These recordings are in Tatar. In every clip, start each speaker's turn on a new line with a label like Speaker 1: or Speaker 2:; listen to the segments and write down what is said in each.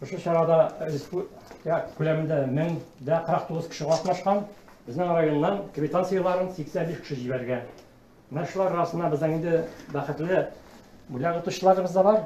Speaker 1: Шушы чарада республика күләмендә 1049 кеше катнашкан. Безнең районнан квитанцияләрен 85 кеше җибәргән. Менә шулар арасында безнең инде бәхетле бүләк отучыларыбыз да бар.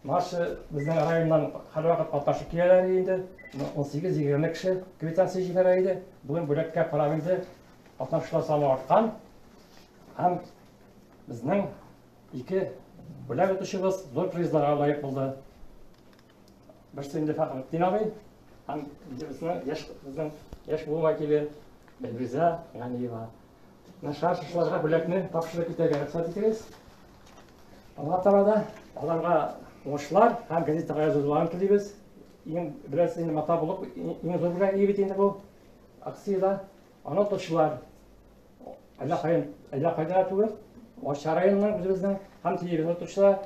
Speaker 1: Нашы безнең районнан һәрвакыт катнашып киләләр инде. 18-20 кеше квитанция җибәрә иде. Бүген бүләккә карап инде катнашучылар саны арткан. Һәм безнең Ике бүләк итүчебез зур призларга лаек булды. Берсе инде Фәхретдин абый, һәм икенчесе яшь безнең яшь буын вәкиле Эльвиза Ганиева. Нашар шышларга бүләкне тапшырып китәргә рөхсәт итегез. Алга таба да аларга уңышлар һәм газетага язылуларын телибез. Иң беләсез инде мата булып иң зур бүләк бит инде бу акциядә. Ана точлар, әллә кайын, әллә кайда түгел, Арча районыннан үзебезнең һәм телевизор точлар,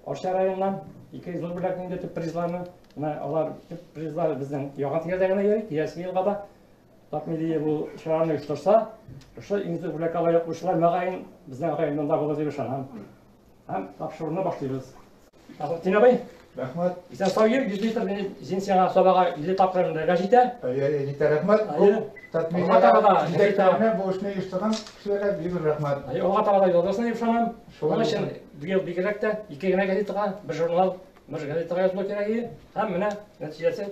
Speaker 1: Арча районыннан ике зур бүләк инде төп призларны, менә алар төп призлар безнең яңа тирәдә генә йөри, киләсе елга да Татмилия бу чараны оештырса, шушы иң зур бүләккә лаек булучылар мөгаен безнең районнан да булыр дип ышанам. Һәм тапшыруны башлыйбыз. Тәхетдин абый. Рәхмәт. Исән
Speaker 2: сау йөр, 100
Speaker 1: литр бензин сиңа сабага 50 тапкыр мендәргә җитә. Әйе, җитә,
Speaker 2: рәхмәт. Алга таба да җитәкләрне бу эшне оештырган кешеләргә бик зур рәхмәт. Әйе, алга таба да язасына дип
Speaker 1: ышанам. Шуның өчен быел бигрәк тә ике генә газетага, бер журнал, бер газетага язылу кирәк иде. Һәм менә нәтиҗәсе